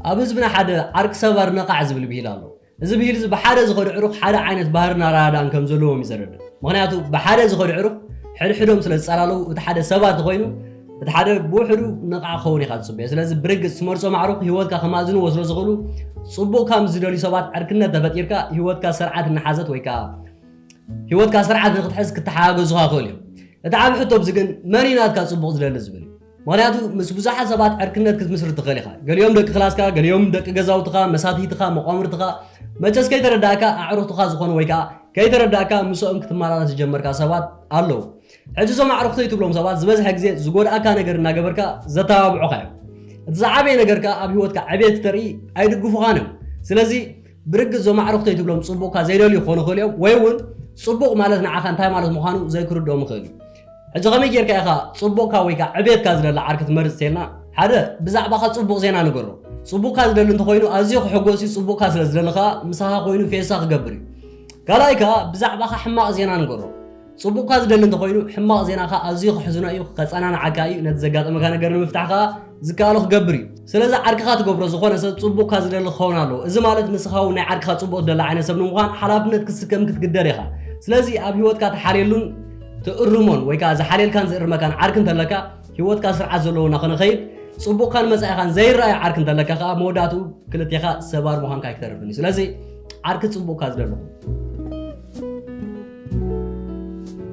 ኣብ ህዝብና ሓደ ዓርኪ ሰባር ነቓዕ ዝብል ብሂል ኣሎ። እዚ ብሂል እዚ ብሓደ ዝኸዱ ዕሩኽ ሓደ ዓይነት ባህርን ኣረዳድኣን ከም ዘለዎም እዩ ዘረድእ። ምኽንያቱ ብሓደ ዝኸዱ ዕሩኽ ሕድሕዶም ስለ ዝጸላለዉ እቲ ሓደ ሰባር እንተኾይኑ እቲ ሓደ ብውሕዱ ነቓዕ ክኸውን ኢኻ ትጽበዮ። ስለዚ ብርግጽ ትመርጾም ኣዕሩኽ ህይወትካ ከማእዝንዎ ስለ ዝኽእሉ ጽቡቕካ ምስ ዝደልዩ ሰባት ዕርክነት ተፈጢርካ ህይወትካ ስርዓት እናሓዘት ወይ ከኣ ህይወትካ ስርዓት ንክትሕዝ ክተሓጋገዙኻ ይኽእሉ እዮም። እቲ ዓቢ ሕቶ ኣብዚ ግን መን እዩ ናትካ ጽቡቕ ዝደሊ ዝብል እዩ። ምኽንያቱ ምስ ብዙሓት ሰባት ዕርክነት ክትምስርት ትኽእል ኢኻ። ገሊኦም ደቂ ክላስካ፣ ገሊኦም ደቂ ገዛውትኻ፣ መሳትይትኻ፣ መቋምርትኻ፣ መቸስ ከይተረዳእካ ኣዕሩኽትኻ ዝኾኑ ወይ ከኣ ከይተረዳእካ ምስኦም ክትመላለስ ዝጀመርካ ሰባት ኣለዉ። ሕጂ እዞም ኣዕሩኽተይ ትብሎም ሰባት ዝበዝሐ ግዜ ዝጎድኣካ ነገር እናገበርካ ዘተባብዑኻ እዮም። እቲ ዝዓበየ ነገር ከኣ ኣብ ህይወትካ ዕብየት ክተርኢ ኣይድግፉኻን እዮም። ስለዚ ብርግጽ እዞም ኣዕሩኽተይ ትብሎም ጽቡቕካ ዘይደልዩ ክኾኑ ይኽእሉ እዮም፣ ወይ እውን ጽቡቕ ማለት ንዓኻ እንታይ ማለት ምዃኑ ዘይክርድኦም ይኽእል እዩ። ሕጂ ከመይ ጌርካ ኢኻ ጽቡቕካ ወይ ከኣ ዕብየትካ ዝደሊ ዓርኪ ትመርጽ እንተኢልና፣ ሓደ ብዛዕባኻ ጽቡቕ ዜና ንገሮ። ጽቡቕካ ዝደሊ እንተኾይኑ ኣዝዩ ክሕጎስ እዩ፣ ጽቡቕካ ስለ ዝደሊ ከኣ ምሳኻ ኮይኑ ፌሳ ክገብር እዩ። ካልኣይ ከኣ ብዛዕባኻ ሕማቕ ዜና ንገሮ። ጽቡቕካ ዝደሊ እንተኾይኑ ሕማቕ ዜናኻ ኣዝዩ ከሕዝኖ እዩ፣ ከጸናንዓካ እዩ፣ ነቲ ዘጋጠመካ ነገር ንምፍታሕ ከኣ ዝከኣሎ ክገብር እዩ። ስለዚ ዓርክኻ ትገብሮ ዝኾነ ሰብ ጽቡቕካ ዝደሊ ክኸውን ኣለዎ። እዚ ማለት ንስኻ እውን ናይ ዓርክኻ ጽቡቕ ትደሊ ዓይነት ሰብ ንምዃን ሓላፍነት ክትስከም ክትግደድ ኢኻ። ስለዚ ኣብ ህይወትካ ትሓልየሉን ትእርሞን ወይ ከኣ ዝሓልየልካን ዝእርመካን ዓርኪ እንተለካ ህይወትካ ስርዓት ዘለዎ እናኾነከይድ ጽቡቕካን መጻኢኻን ዘይረኣዮ ዓርኪ እንተለካ ከኣ መወዳእትኡ ክልቴኻ ሰባር ምዃንካ ኣይክተርፍን እዩ። ስለዚ ዓርኪ ጽቡቕካ ዝደለኹ።